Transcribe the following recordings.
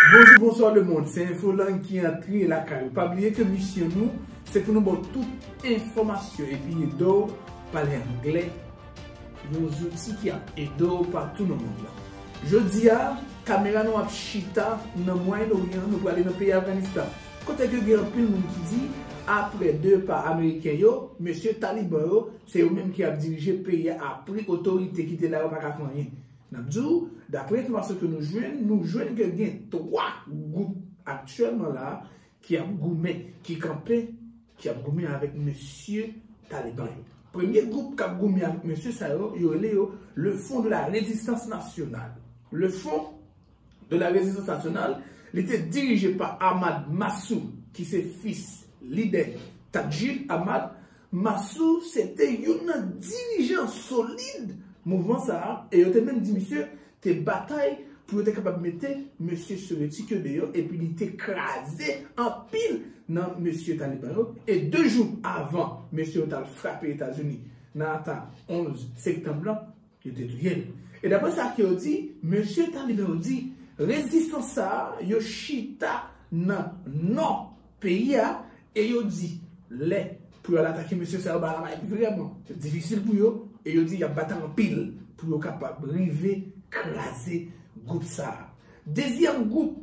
Bonjou bonswa le mond se info lang ki antre lakay ou pa bliye ke misyon nou se pou nou ba w tout enfòmasyon epi ede w pale anglè yon zouti ki ap ede w patou nan mond lan jodi a kamera nou ap chita nan mwayen oryan nou prale nan peyi afganistan kote ke gen anpil moun ki di aprè de pa ameriken yo mesye taliban yo se yo menm ki ap dirije peyi a apri otorite ki te la yo pa ka fè anyen. N ap di w, dapre enfòmasyon ke nou jwenn, nou jwenn ke gen 3 gwoup aktyèlman la ki ap goumen, ki kanpe, ki ap goumen avèk mesye Taliban yo. Premye gwoup k ap goumen avèk mesye sa yo, yo rele yo Le Front de la Résistance Nationale. Le Front. de la Résistance Nationale, li te dirije pa Ahmad Massoud ki se fis lidè Tadjil Ahmad. Massoud se te youn nan dirijan solid mouvman sa a e yo te menm di misye te batay pou yo te kapab mete mesye sovetik yo deyò epi li te kraze anpil nan mesye taliban yo. E 2 jou avan mesye yo t al frape Etazini nan ata 11 sektanb lan, Yo te touye l. E dapre sa ke yo di, mesye talibè yo di, rezistan sa yo chita nan nò peyi a, e yo di lè pou yo al atake mesye sa yo bagay la va èt vrèman difisil pou yo, e yo di y ap batay anpil pou yo kapab rive kraze gwoup sa a. Dezyèm gwoup.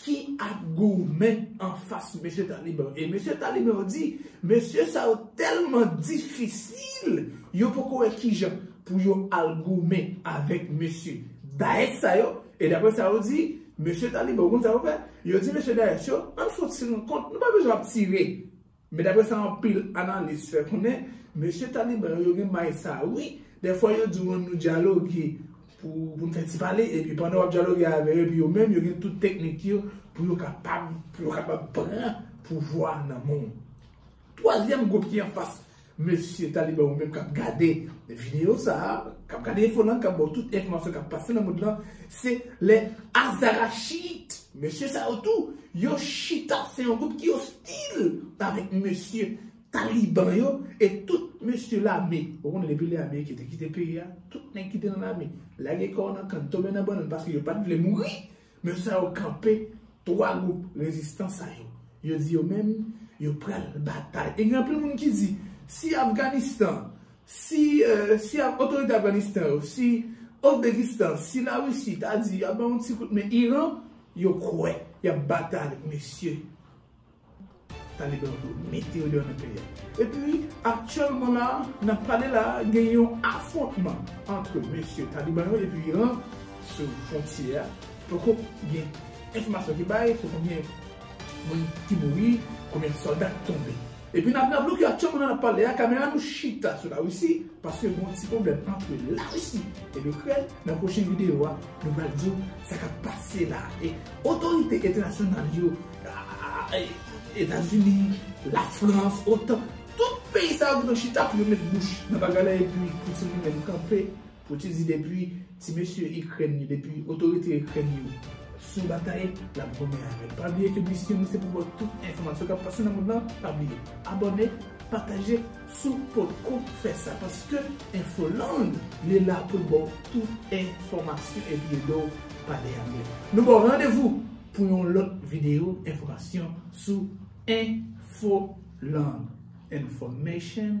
ki ap goumen anfas mesye taliban yo. E mesye taliban yo di, mesye sa yo tèlman difisil, yo poko wè kijan pou yo al goumen avèk mesye Daesh sa yo. E dapre sa yo di, mesye taliban yo konn sa yo fè, yo di mesye Daesh yo, ann fout si nou kont, nou pa bezwen ap tire. Men dapre sa anpil analis fè konnen, mesye Taliban yo, yo gen may sa wi, dèfwa yo di w an nou dyaloge pou nou fè ti pale, epi pandan w ap dyaloge avè yo, epi yo menm yo gen tout teknik yo pou yo kapab, pou yo kapab pran pouvwa a nan men w. Twazyèm gwoup ki anfas mesye Taliban yo menm k ap gade videyo sa a, k ap gade enfo lan, k ap ba w tout enfòmasyon k ap pase nan mond lan, se les Azarachites. Mesye sa yo tou, yo chita se yon gwoup ki ostil avèk mesye Taliban yo e tout mesye lame. Ou konnen depi lè Ameriken te kite peyi a, tout nèg ki te nan lame lage kò nan kann, tonbe nan bannann paske yo pa t vle mouri. Mesye sa yo kanpe 3 gwoup rezistan sa yo. Yo di yo menm yo pral batay. E gen anpil moun ki di si Afganistan. Si si a otorite Afganistan yo, si Ozbekistan, si la Russie ta di yap bay yon ti kout men Iran, yo kwè yap batay avèk mesye Taliban yo pou mete yo deyò nan peyi a. Epi aktyèlman la nap pale la a gen yon afwontman antre mesye Taliban yo epi Iran sou fwontyè a. Poko gen enfòmasyon ki bay sou konbyen moun ki mouri, konbyen sòlda ki tonbe. Epi nap nan bloke ak chanm nan nap pale a kamera nou chita sou larisi paske gen yon ti pwoblèm antre larisi e likrèn nan pwochen video a nou pral diw sa kap pase la e otorite entènasyonal yo etazini lafrans otan tout peyi sa yo gen tan chita pou yo met bouch nan bagay la epi poutine li menm kanpe Poutin di depi ti mesye ikrèn yo depi otorite ikrèn yo sou batay lap goumen avèl pa bliye ke misyon nou se pou baw tout enfòmasyon kap pase nan mond lan pa bliye abòne pataje sou potko fè sa paske infoland li la poul baw tout enfòmasyon epi edew pale anglè nou baw randevou pou yon lòt video enfòmasyon sou infoland information.